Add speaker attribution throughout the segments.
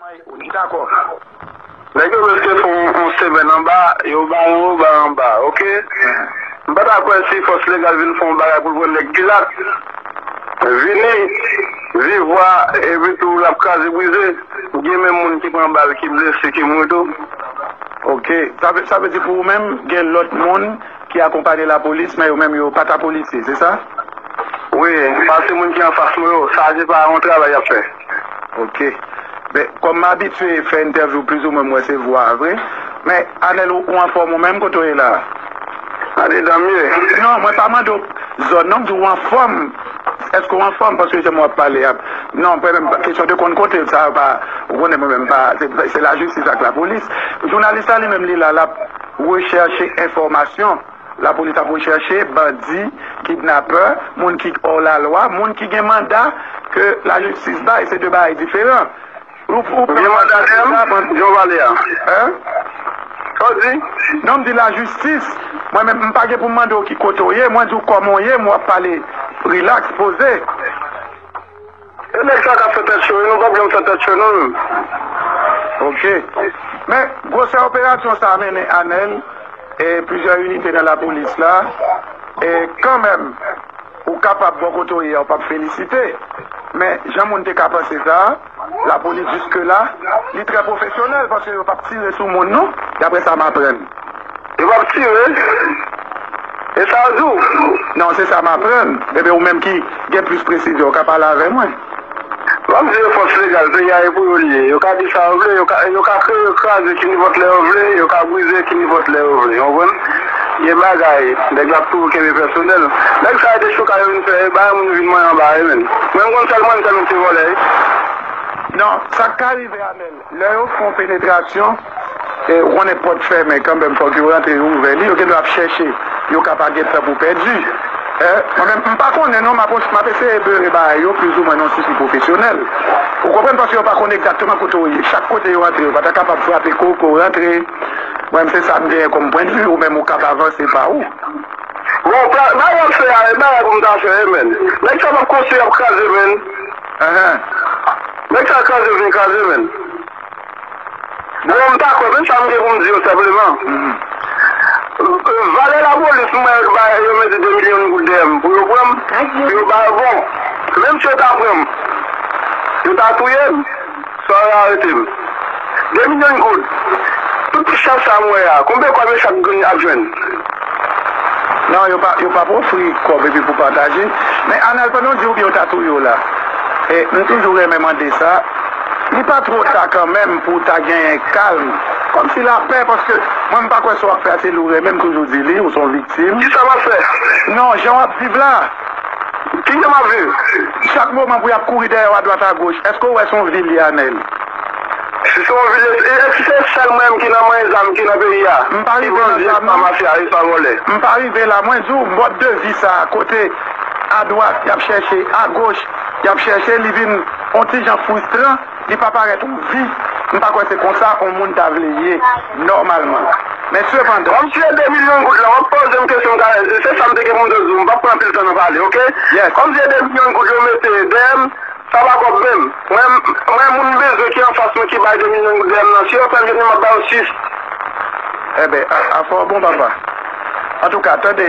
Speaker 1: May ou dakò.
Speaker 2: Nèg yo reste fè yon semèn anba, yo ba yon yo ba anba ok. M pa ta kwè si fòs legal vin fè yon bagay pou l pran nèg pilat vini viv vwa epi tou l ap kraze brize gen menm moun ki pran bal ki blese ki mouri tou. Ok.
Speaker 1: Sa vle di pou ou menm gen lòt moun ki akonpanye lapolis men yo menm yo pa ta polisye se sa? Wi,
Speaker 2: pase moun ki anfas mwen yo sa se pa yon travay y ap fè. Ok
Speaker 1: men kom m abitye fè entèvyou plizoumwen m wè se vwa a vre men Anel ou anfòm ou menm kote w ye la a? Gade
Speaker 2: danm ye. Non mwen pa mande
Speaker 1: w zòn non m di w anfòm eske w anfòm paske jan m wè w ap pale a non mwen menm kesyon de konn kote sa yo pa ou konnen mwen menm pa se lajistis ak lapolis jounalis la li menm li la l ap rechèche enfòmasyon. Lapolis ap rechèche bandi, kidnapè, moun ki ò la lwa, moun ki gen manda ke la jistis bay. Se 2 bagay diferan. Ou gen
Speaker 2: manda deyè m, Jean Vallier a? Hein?
Speaker 1: Sa w
Speaker 2: di? Non, m di
Speaker 1: la jistis. Mwen menm, m pa gen pou m mande w ki kote w ye, mwen di w kòman w ye, m wè w ap pale rilaks, poze.
Speaker 2: E nèg sa kap fè tèt cho yo nou pap janm fè tèt cho non. Ok.
Speaker 1: Men, gwosè operasyon sa mennen anèn e plizyè inite nan lapolis la, e kanmenm ou kapab bò kote w ye a ou pap felisite, men jan moun te ka panse sa, lapolis jiskela li trè pwofesyonèl paske yo pap tire sou moun non, daprè sa m aprann. Yo pap
Speaker 2: tire E sa ou di w? Non se sa m
Speaker 1: aprann. Ebyen ou menm ki gen plis presizyon ou ka pale avè mwen. Map di
Speaker 2: yo fòs legal peyi a e pou yo li ye. Yo ka di sa yo vle, yo ka yo ka kreye, yo ka kraze kinipòt lè yo vle, yo ka brize kinipòt lè yo vle. Konprann? Gen bagay nèg la ap toujou kenbe pèsonèl. Nèg sa yo dechouka yo vin fè e bay moun vin manyen anba e menn. Mwen m konn sèl mwen m sèl m se vòlè. Non,
Speaker 1: sak ka rive Amel. Lè yo fon penetrasyon e ou konnen pòt fèmen kanmenm fòk yo rantre yo ouvè li yo gendwa ap chèche yo ka pa gen tan pou pèdi e mwen menm m pa konnen non map eseye beure bagay yo plis ou mwen yon tipi pwofesyonèl ou konprann paske yo pa konn egzakteman kote w ye chak kote yo rantre yo pa ta kapab frape kou ke w rantre mwen menm se sa m genyen kòm pwen de vue ou menm ou kab avanse pa ou. Bon,
Speaker 2: bagay wap fè a e bagay pou m ta fè menn. Nèg sa map konstwi yap kraze menn. Eeh nèg sa kraze vin kraze menn Bon m pa kwè men sa m gen pou m di yo senpleman Valè lapolis mwen yo bay yo mete 2 milyon goud dèyè m pou yo pran m pou yo ba yo bon menm si yo ta pran m yo ta touye m. Sara arete m. 2 milyon goud! Tout ti chat sa m wè a, konbyen kòb yo chak grenn ap jwenn?
Speaker 1: Non, yo pa, yo pap ofri kòb epi pou pataje. Men Anèl, pandan w di oubyen yo ta touye w la. E, m toujou renmen mande sa, li pa twò ta kanmenm pou w ta genyen kalm, kòmsi lapè, paske mwen m pa kwè sa w ap fè a se li w renmen, m toujou di li, ou s on viktim. Kisa m ap fè?
Speaker 2: Non, jan w ap
Speaker 1: viv la. Kite
Speaker 2: map viv. Chak moman pou
Speaker 1: yap kouri dèyèw adwat agoch eske ou wè son vil ye anel. Si
Speaker 2: se yon vil ye si eske se sèl mwen menm ki nan manyen zam ki nan peyi a M pa ki rive nan bandi
Speaker 1: zam epa non. mafya epa vòlè. M pa rive la mwen diw mòd de vi sa kote adwat yap chèche agoch yap chèche li vin on ti jan frustran. Li pa parèt on vi, m pa kwè se konsa on moun ta vle ye nòmalman. Men sepandan. Kòmsi e 2 milyon
Speaker 2: goud la, wap poze m kesyon kare, se sa m te gen pou m te di w, m pap pran anpil tan nan pale ok. Kòmsi e 2
Speaker 1: milyon goud
Speaker 2: yo mete dèyè m, sa pa kòb menm. Mwen moun m bezwen ki anfas mwen ki bay 2 milyon goud dèyè m nan, si yo fèl vini m ap ba yo 6.
Speaker 1: Enben, afè w bon papa. Antouka, tande.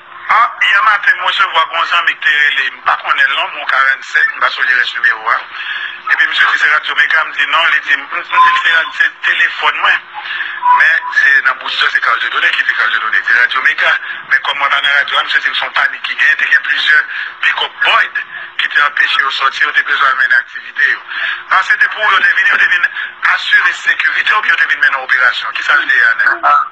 Speaker 2: A Yè maten m resevwa gon zanmi k te rele m pa konnen l non m on 47 m pa sonje rès nimewo a epi misye di se radyo mega m di non li di m m di l se rad se telefòn mwen men se nan bouzdòy se Carl Dieudonné ki di Carl Dieudonné di radyo mega men kòm mwen pa nan radyo a misye di m se on panik ki genyen te gen plizyè pikòp Boyd ki te anpeche yo sòti yo te bezwen al mennen aktivite yo a se te pou yo te vini yo te vin asire sekirite oubyen yo te vin mennen operasyon kisa l te ye a nèg.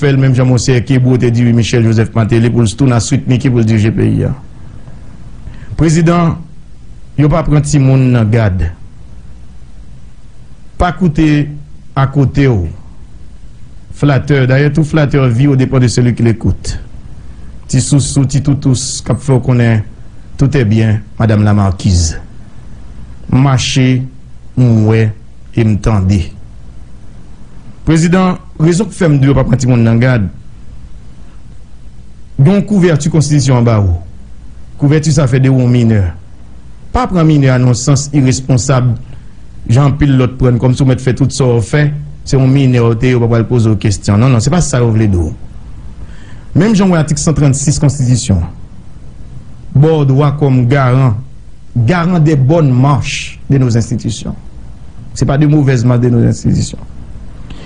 Speaker 3: Fèl menm jan monseyè kebou te di wi michel joseph mateli poul stoun a sweet micky poul dirije peyi a prezidan yo pa pran ti moun nan gad pa koute a kotew flatè dayè tou flatè viw depan de seli ki lekout ti sousou ti toutous kap fèw konnen toutè byen madam la markiz mache m wè. E m tande. Prezidan, rezon k fè m di w pa pran timoun nan gad, gen yon kouvèti konstitisyon an ba ou. Kouvèti sa fè de ou yon minè. Pa pran minè a nan yon sans iresponsab jan anpil lòt pran n, kòmsi w mèt fè tout sa w fè, se yon minè w te, yo pa pral poze w kesyon. Non, non, se pa sa yo vle di w. Menm jan w wè atik 136 konstitisyon an ba w dwa kòm garan. garan de bòn mach de nos enstitisyon. Se pa de movèz mach de nos enstitisyon.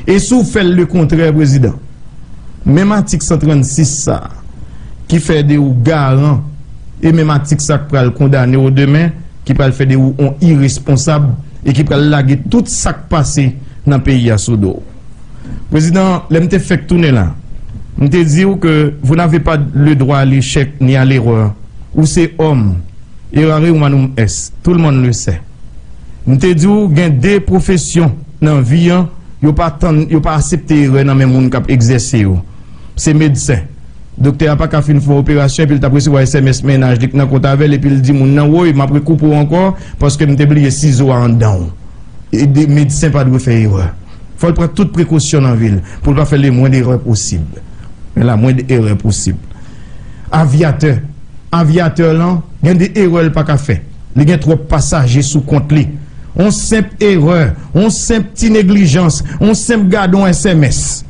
Speaker 3: E si w fè l le kontrè, Prezidan, menm atik 136 sa a ki fè de ou garan e menm atik sa a k pral kondane w demen, ki pral fè de ou on iresponsab e ki pral lage tout sa k pase nan peyi a sou do w. Prezidan, lè m te fèk tounen la, m te di ou ke vous n'avez pas le droit à l'échec ni à l'erreur. Ou se òm, errare humanum est, tout le monde le sait. M te di ou gen de pwofesyon nan vi an, yo pa tann, yo pa asepte erè nan men moun k ap egzèse yo. Se medsen. Doktè a pa ka fin fè yon operasyon epi l t ap resevwa sms mennaj li k nan kont avè l epi l di moun nan, woy, m ap rekoupe w ankò paske m te bliye sizo a anndan w. Medsen pa dwe fè erè. Fò l pran tout prekosyon nan vi l pou l pa fè lemwend erè posib. Men lamwend erè posib. Avyatè, Avyatè lan gen de erè l pa ka fè. Li gen twòp pasaje sou kont li. On senp erè, on senp ti neglijans, on senp gade on sms.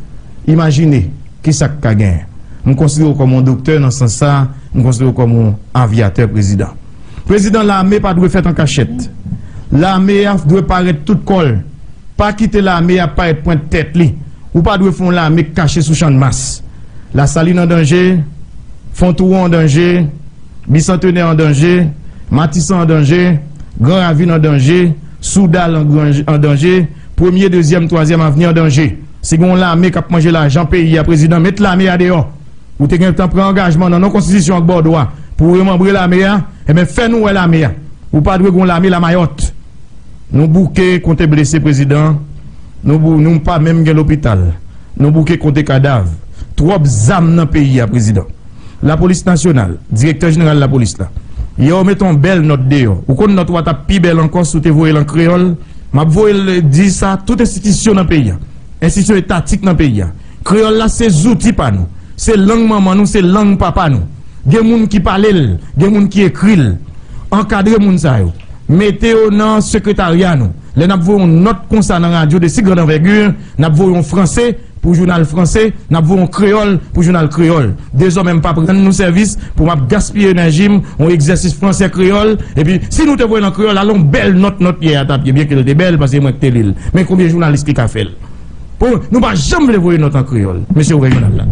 Speaker 3: Imajine ki sa k ka gen. M konsidere w kòm on doktè nan sans sa a, m konsidere w kòm on Avyatè Prezidan. Prezidan lame pa dwe fèt an kachèt. Lame a dwe parèt tout kò l. Pa kite lame a parèt pwent tèt li. Ou pa dwe fè yon lame k kache sou Channmas. Lasalin an danje, Fontouwon an danje, Bisantenè an danje, Matisan an danje, Gran Ravin an danje, Soudal an danje, Premye, Dezyèm, Twazyèm Avni an danje. Si gen yon lame k ap manje lajan peyi a, Prezidan, met lame a deyò! Ou te gentan pran angajman nan non konstitisyon ak bòdwo a pou ou remanbre lame a, enben fè nou wè lame a. Ou pa dwe gen yon lame lamayòt. Nou bouke konte blese prezidan, nou pa menm gen lopital. Nou bouke konte kadav. Twòp zam nan peyi a prezidan. Lapolis nasyonal, direktè jeneral lapolis la, yè ou mete yon bèl nòt deyò. Ou konn nòt ou a t ap pi bèl ankò si ou te voye l an kreyòl. M ap voye l di sa tout enstitisyon nan peyi a, enstitisyon etatik nan peyi a. Kreyòl la se zouti pa nou. Se lang manman nou, se lang papa nou. Gen moun ki pale l, gen moun ki ekri l. Ankadre moun sa yo. Mete yo nan sekretarya nou. Lè n ap voye yon nòt konsa nan radyo de si grand envergure, n ap voye yon franse pou jounal franse, n ap voye yon kreyòl pou jounal kreyòl. Dezòmè m p ap rann nou sèvis pou m ap gaspiye enèji m, yon egzèsis franse-kreyòl. Epi, si nou te voye l an kreyòl, alon bèl nòt nòt yè a t ap ye, byenke l te bèl, paske se mwen k te li l. Men konbyen jounalis ki ka fè l? Pou nou pa janm vle voye nòt an kreyòl. Mesye ouvè jounal la.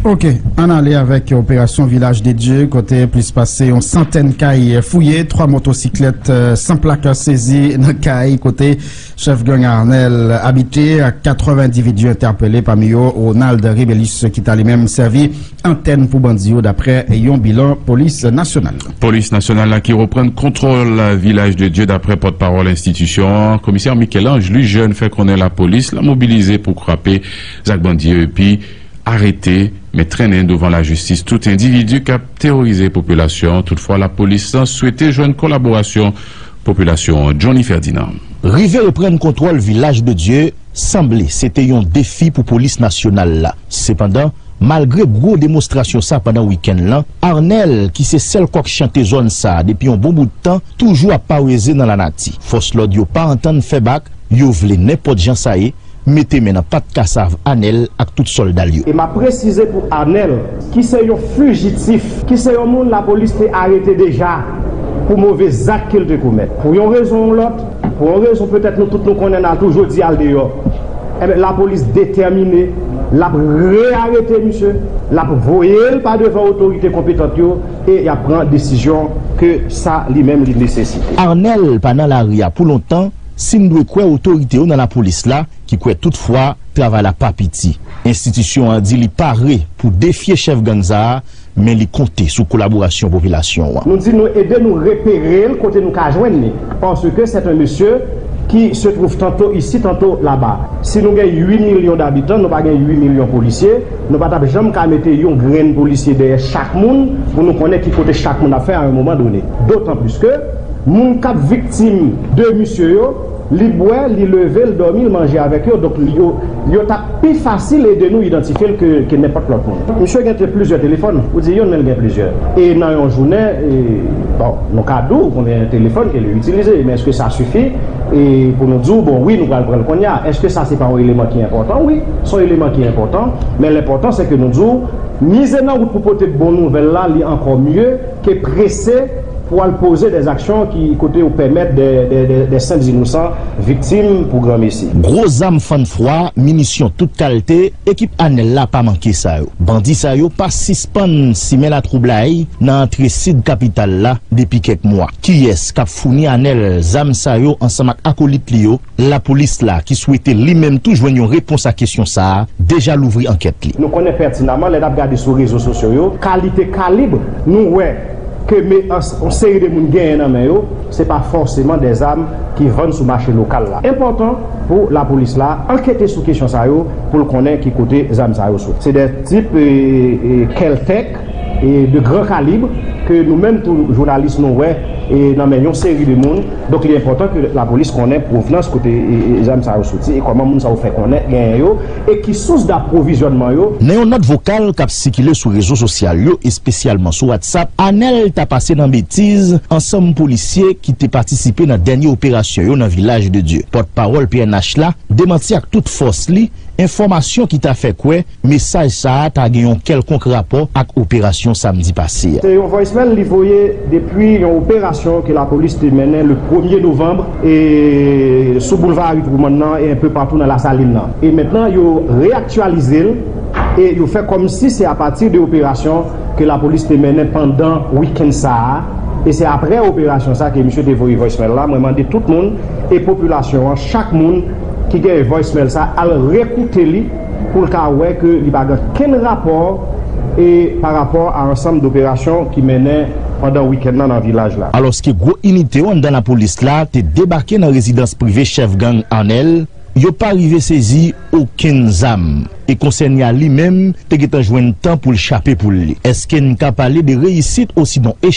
Speaker 4: Ok, ann ale avèk operasyon Vilaj de Dye kote plis pase yon santèn kay fouye, 3 motosiklèt san plak sezi nan kay kote chèf gang Arnel abite ak 4 endividu entèpele pami yo Ronald Rebelus ki ta li menm sèvi antèn pou bandi yo daprè yon bilan polis nasyonal la. Polis nasyonal la ki reprann kontwòl Vilaj de Dye daprè pòt pawòl enstitisyon an, komisè Michel-Ange Lujeune fè konnen lapolis la mobilize pou kwape zak bandi yo epi arete men trennen douvan lajistis tout endividi kap teworize popilasyon an toutfwa lapolis la swete jwenn kolaborasyon popilasyon an Johnny Ferdinand. Rive reprann
Speaker 5: kontwòl Vilaj de Dye. Sanble se te yon defi pou polis nasyonal la. Sepandan, malgre gwo demonstrasyon sa pandan wikenn lan, Arnel, ki se sèl kòk chante zòn sa depi yon bon bout tan, toujou ap paweze nan lanati. Fòs lòd yo pa antann fè bak, yo vle nenpòt jan sa ye, mete men nan pat kasav Anel ak tout sòlda l yo. E m ap presize pou
Speaker 6: Arnel, ki se yon fijitif, ki se yon moun lapolis te arete deja pou move zak ke l te komèt, pou yon rezon ou lòt, Pou yon rezon petèt nou tout nou konnen nan tou jodi al deyò enben lapolis detèmine lap re arete misye lap voyel pa devan otorite konpetant yo e yap pran desizyon ke
Speaker 5: sa
Speaker 6: li
Speaker 5: menm li
Speaker 6: nesesite. Arnel pa nan
Speaker 5: lari
Speaker 6: a pou
Speaker 5: lontan
Speaker 6: si
Speaker 5: n dwe kwè otorite yo nan lapolis la ki kwè tout fwa travay la pa piti. Enstitisyon an di li pare pou defye chèf gang sa a men li konte sou kolaborasyon popilasyon an. Nou di nou ede
Speaker 6: nou repere l kote nou ka jwenn li, paske c'est un monsieur qui se trouve tantôt ici tantôt là-bas. Si nou gen 8 milyon d'habitants, nou pa gen 8 milyon polisye, nou pa tap janm ka mete yon grenn polisye dèyè chak moun pou nou konnen ki kote chak moun ap fè a un moment donné. D'autant plus que moun kap viktim de misye yo, Li bwè, li leve, l dòmi, l manje avèk yo, donk yo t ap pi fasil ede nou idantifye l ke nenpòt lòt moun. Misye gen plizyè telefòn, ou di youn men l gen plizyè. E nan yon jounen, bon, nou ka di w konbyen telefòn ke li itilize, men èske sa sifi pou nou di w, bon, wi nou pral pran l kounye a? Èske sa se pa yon eleman ki enpòtan? Wi, se yon eleman ki enpòtan, men l enpòtan se ke nou di w, mize nan wout pou pote bon nouvèl la, li ankò mye. Te prese pou al poze des aksyon ki kote yo pèmèt des senp inosan viktim pou gran mesi. Gwo zam fann
Speaker 5: fwa, minisyon tout kalte, ekip Anel la pa manke sa yo. Bandi sa yo pa sispann simen latwoublay nan antre sid kapital la depi kèk mwa. Kiyès k ap founi Anel zam sa yo ansanm ak akolit li yo? Lapolis la, ki swete li menm tou jwenn yon repons a kesyon sa a, deja louvri ankèt li. Nou konnen pètinaman lè n
Speaker 6: ap gade sou rezo sosyo yo, kalite kalib nou wè ke me ans yon seri de moun genyen nan men yo, se pa fòseman de zam ki vann sou mache lokal la. Enpòtan pou lapolis la ankete sou kesyon sa yo pou l konnen ki kote zam sa yo soti. Se de tip keltèk de grand calibre ke nou menm tou jounalis nou wè nan men yon seri de moun, donk li enpòtan ke lapolis konnen pwovnans kote zam sa yo soti e kòman moun sa yo fè konnen genyen yo e ki sous daprovizyònman yo. Nan yon nòt vokal k
Speaker 5: ap sikile sou rezo sosyal yo, espesyalman sou WhatsApp, Anèl ta pase nan betiz ansanm polisye ki te patisipe nan dènye operasyon yo nan Vilaj de Dye. Pòtpawòl pnh la demanti ak tout fòs li enfòmasyon ki ta fè kwè mesaj sa a ta gen yon kèlkonk rapò ak operasyon samdi pase a. Se yon voicemail li
Speaker 6: voye depi yon operasyon ke lapolis te mennen le premye novanb e sou boulva Ari Twoumann nan e enpe patou nan Lasalin nan. E mentnan yo reaktyalize l e yo fè kòmsi se apati de operasyon ke lapolis te mennen pandan wikenn sa a e se aprè operasyon sa ke misye te voye voicemail la. Mwen mande tout moun e popilasyon an, chak moun ki gen voicemail sa al rekoute li. pou l ka wè ke li pa gen kenn rapò e pa rapò a ansanm doperasyon ki mennen pandan wikenn nan nan vilaj la. Alòske gwo inite
Speaker 5: yo anndan lapolis la te debake nan rezidans prive chèf gang Arnel, yo pa rive sezi okenn zam e konsène a li menm te gentan jwenn tan pou l chape poul li. Eske n ka pale de reyisit osinon echèk?